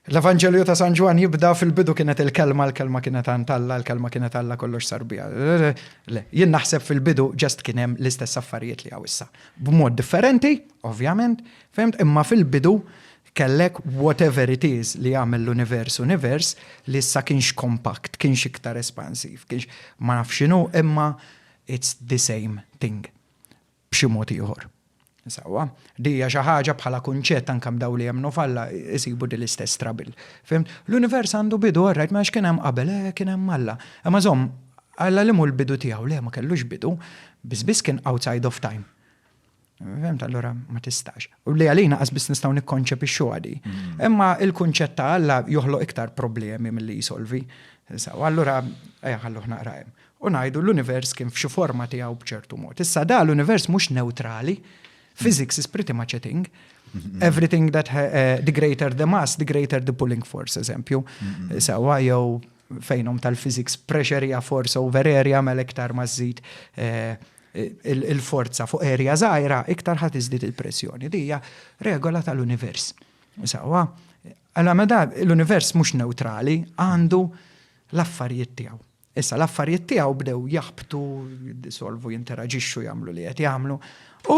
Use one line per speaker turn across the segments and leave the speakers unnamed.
L-Evanġelju ta' San Ġwann jibda fil-bidu kienet il-kelma, l-kelma kienet għand Alla, l-kelma kienet Alla kollox sar biha. Le, jien naħseb fil-bidu ġast kien hemm l-istess affarijiet li hawn issa. B'mod differenti, ovvjament, fehmt, imma fil-bidu kellek whatever it is li jagħmel l-univers univers li issa kienx kompakt, kienx iktar espansiv, kienx ma nafx x'inhu imma it's the same thing. b'xi mod ieħor. Sewwa, din hija xi ħaġa bħala kunċett anke b'dawn li jemmnu f'Alla jsibu din l-istess trouble. Fimt? L-univers għandu bidu, all right, mela x'kien hemm qabel? Eh, kien hemm Alla. Imma żomm, Alla li mhu l-bidu tiegħu, le ma kellux bidu, biss biss kien outside of time. Fimt, allura ma tistax. U li għalina qas biss nistgħu nikkonċepixxu għadi. Mm. Imma il-kunċett ta' Alla joħloq iktar problemi mill-li jisolvi. Sawa, allura, ejja ħalluh naqra hemm. u ngħidu l-univers kien f'xi forma tiegħu b'ċertu mod. Issa da l-univers mhux neutrali, physics is pretty much a thing. Mm-hmm. Everything that uh, the greater the mass, the greater the pulling force, eżempju. Mm-hmm. Sewa jew fejnom tal-physics pressure hija force over area mela iktar ma żżid eh, il-forza fuq area żgħira iktar ħadd iżdid il-pressjoni. Dija regola tal-univers. Sewa, għala meda l-univers mhux neutrali għandu l-affarijiet tiegħu. Issa l-affarijiet tiegħu bdew jaħbtu, jiddisolvu, jinteraġixxu, jagħmlu li qed jagħmlu. U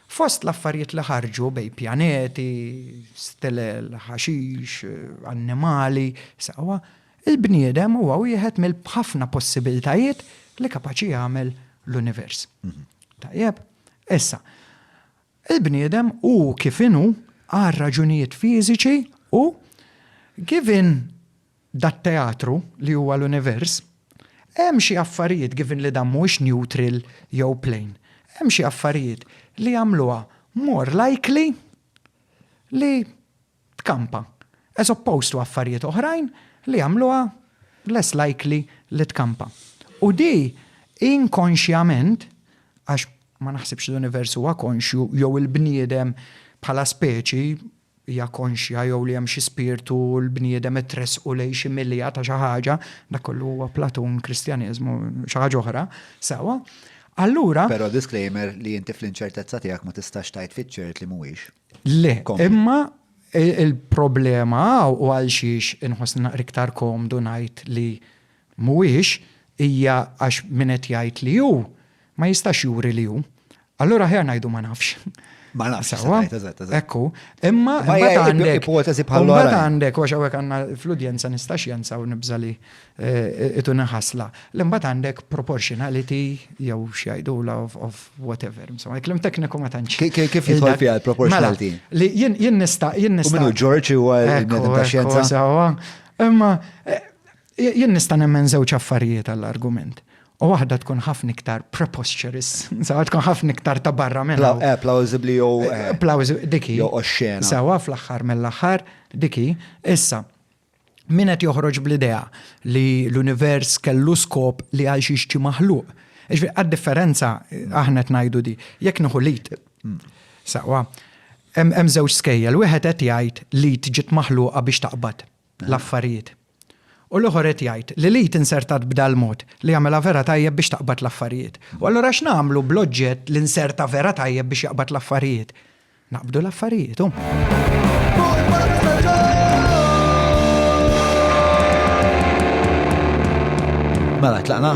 fost l-affarijiet li ħarġu bej pjaneti, stilel, ħaxix, annimali, saqwa, il-bniedem huwa wieħed mill-ħafna possibiltajiet li kapaċi jagħmel l-univers. Mhm. Tajjeb, issa, il-bniedem u kif inhu għal raġunijiet fiżiċi u given dat-teatru li huwa l-univers, hemm xi affarijiet, given li dan mhuwiex neutral jew plane, hemm xi affarijiet li jagħmluha more likely li tkampa, as opposed to affarijiet oħrajn li jagħmluha less likely li tkampa. U di inkonxjament, għax ma naħsibx l-univers huwa konxju jew il-bniedem bħala speċi hija konxja jew li hemm xi spirtu u l-bniedem qed tressqu lejn xi milja ta' xi ħaġa, dak kollu huwa Platun, Kristjaneżmu, xi ħaġa oħra, sewwa, allura. Però disclaimer
li inti fl-inċertezza tiegħek ma tistax tgħid fiċ-ċert li mhuwiex. Le, imma
il-problema hawn u għalxiex inħossni naqra iktar komdu ngħid li Mhuwiex, hija għax min qed jgħid li hu, ma jistax juri li hu. Allura aħjar ngħidu ma nafx. Ma nafx, sewwa? Sewwa?
Eżatt, eżatt, eżatt. Ekku.
Imma Ma mbagħad hija għandek. ipoteżi bħal Mbagħad oħrajn. għandek, għax hawnhekk għandna fl-udjenza nistax jensa u nibża' li eh, ituni ħasla. Le mbagħad għandek proportionality jew x'jgħidulha of, of whatever. Insomma, il-kliem tekniku ma tantx. Ki- ki- kif jidħol fiha
l-proportionality? Mela, li jien jien
nista' jien U nista'. minnu George
huwa Ekku, il-bniedem ta' ekku, xjenza? sewwa. Imma
eh, Jien nista' nemmen żewġ affarijiet għall-argument. U waħda tkun ħafna iktar preposterous, sawa tkun ħafna iktar ta' barra minn. Eh, plausibbli jew. Eh,
eh, plausibbli, diki. Jew
oxxena.
Sawa fl-aħħar
mill-aħħar, diki. Issa, min qed joħroġ bl-idea li l-univers kellu skop li għal xi xi maħluq. Iġbi, għad-differenza aħna qed ngħidu di, jekk nieħu lit. Hmm. Sawa, hemm żewġ skejjel, wieħed qed jgħid lit ġiet maħluqa biex taqbad eh. l-affarijiet. U l-ieħor qed jgħid li l-id insertat b'dal-mod li jagħmilha vera tajjeb biex taqbad l-affarijiet. U allura x'nagħmlu bl-oġġett li nserta vera tajjeb biex jaqbad l-affarijiet? Naqbdu l-affarijiet, hu.
Mela, tlaqna?